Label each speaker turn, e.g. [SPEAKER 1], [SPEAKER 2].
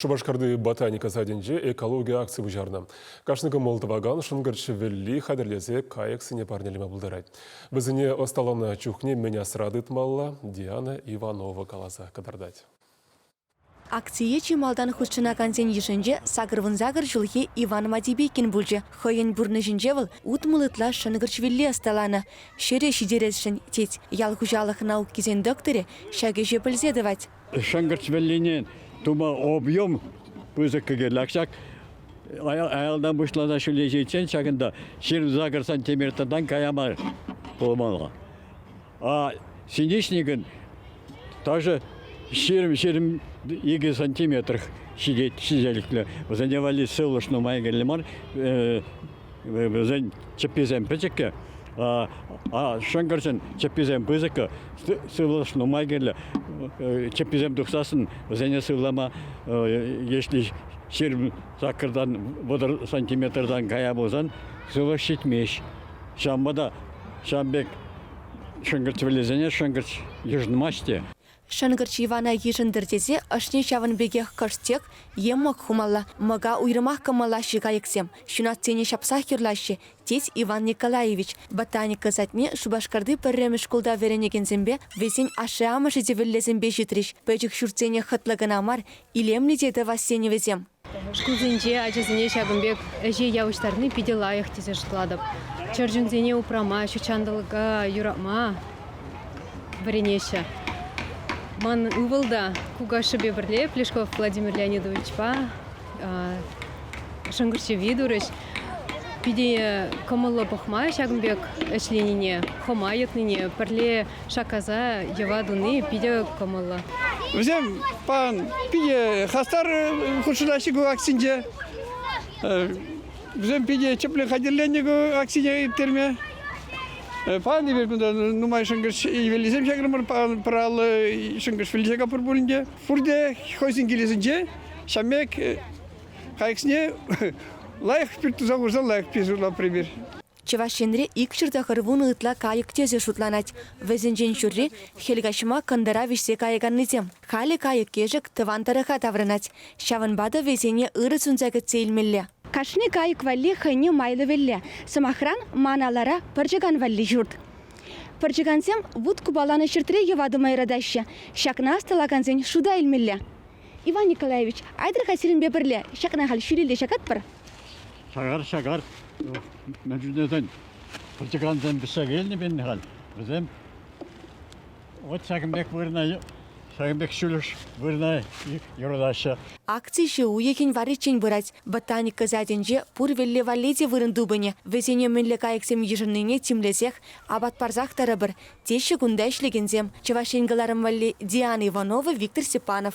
[SPEAKER 1] Шупашкарти ботаника садӗнче экологи акци пуҫарнӑ. Кашни кӑмӑл тӑвакан шӑнкӑрч шӗвелли хатӗрлесе кайӑксене парнелеме пултарать. Вӗсене ӑсталанӑ чухне мӗн асра тытмалла Диана Иванова каласа кӑтартать.
[SPEAKER 2] Акцие чи малтан хутшӑнакансен йышӗнче сакӑрвунсакӑр ҫулхи Иван Мадибекин пулчӗ. Хӑйӗн пурнӑҫӗнче вӑл утмӑл ытла шӑнкӑрчвелли ӑсталанӑ. Ҫӗре ҫитересшӗн, тет. Ял хуҫалӑх наукисен докторӗ ҫак ӗҫе пӗлсе тӑвать. Шӑнкӑрч вӗллине
[SPEAKER 3] тума объем пысӑк кӗкелак ҫак. Аялтан пуҫласа ҫӳлеҫиччен ҫакӑнта ҫырӑнса кӑрсан темиртан кая мар пулмалла. А синичникӑн ташӑ ҫирӗм-ҫирӗм икӗ сантиметр ҫитет ҫителӗклӗ. Вӗсене валли сывлӑш нумай кирлӗ мар. Вӗсен чӗпписем пӗчӗккӗ, шӑнкӑрчӑн чӗпписем пысӑккӑ, сывлӑш нумай кирлӗ. Чӗпписем тухсассӑн вӗсене сывлама, если ҫирӗм саккӑртан, вӑтӑр сантиметртан кая пулсан сывлӑш ҫитмест. Ҫавӑнпа та ҫавӑн пек шӑнкӑрч вӗллесене шӑнкӑрч йышӑнмасть те. Шӑнкӑрч
[SPEAKER 2] Ивана йышӑнтӑр тесе ӑшне ҫавӑн пекех кӑшт-тек е мӑк хумалла, мӑка уйрӑмах кӑмӑллаҫҫӗ кайӑксем, ҫунатсене ҫапсах юрлаҫҫӗ, тет Иван Николаевич. Ботаника садне Шупашкарти пӗрремӗш шкулта вӗренекенсемпе, вӗсен ашшӗ-амӑшӗ те вӗллесемпе ҫитрӗҫ, пӗчӗк ҫуртсене хӑтлӑ кӑна мар, илемлӗ те тӑвассенӗ вӗсем. Шкулсенче
[SPEAKER 4] ачасене ҫакӑн пек ӗҫе явӑҫтарни питӗ лайӑх тесе шутлатӑп. Чӗрчунсене упрама, ҫутҫанталӑка юратма вӗренеҫҫӗ. Ман ывӑл та кукашшӗпе пӗрле Плешков Владимир Леонидовичпа шӑнкӑрчӑви турӗҫ. Питӗ кӑмӑллӑ пӑхма ҫакӑн пек ӗҫленине, хӑма йӑтнине, пӗрле шаккаса йӑва туни питӗ кӑмӑллӑ. Вӗсем
[SPEAKER 5] питӗ хастар хутшӑнаҫҫӗ ку акцинче. Вӗсем питӗ тӗплӗ хатӗрленӗ ку акцине ирттерме. Паян эпир кунта нумай шӑнкӑрч ивеллисем ҫакрӑмӑр, пӑраллӑ шӑнкӑрч вилсе капӑр пулин те. Пурте хӑйсен килӗсенче ҫамек Хайксне лайӑх пӳрт туса хурса лайӑх пиҫурла пример. Чӑваш Енре
[SPEAKER 2] икҫӗр тӑхӑр вунӑ ытла кайӑк тӗсӗ шутланать. Вӗсенчен ҫурри, хӗл каҫма кӑнтӑра вӗҫсе каяканнисем. Халӗ кайӑк-кӗшӗк тӑван тӑрӑха таврӑнать, ҫавӑнпа та вӗсене ырӑ сунса кӗтсе илмелле. Кашни кайӑк
[SPEAKER 6] валли хӑйне майлӑ-вӗлле, сӑмахран, ман алӑра пӑрчӑкан валли ҫурт. Пӑрчӑкансем вут купаланӑ ҫуртри йӑва тума юратаҫҫӗ, ҫакна ӑсталакансен шута илмелле. Иван Николаевич, айтӑр-ха сирӗнпе пӗрле. Ҫакна халь ҫӳлелле ҫакатпӑр. Шагар,
[SPEAKER 3] шагар. Мӗн чухнесен пӑрчӑкансем пӗҫсе вилнӗ халь. Вӗсем вот ҫакӑн пек вырӑна, ҫакӑн пек ҫӳлӗш вырӑна юрлаҫҫӗ. Акци ҫу
[SPEAKER 2] уйӑхӗн варриччен пырать. Ботаника садӗнче пур вӗлле валли те вырӑн тупӑнӗ. Вӗсене мӗнле кайӑксем йышӑннине тимлесех, апат парсах тӑрӑпӑр. теҫҫӗ кунта ӗҫлекенсем, Чӑваш Ен кӑларӑм валли Диана Иванова, Виктор Степанов.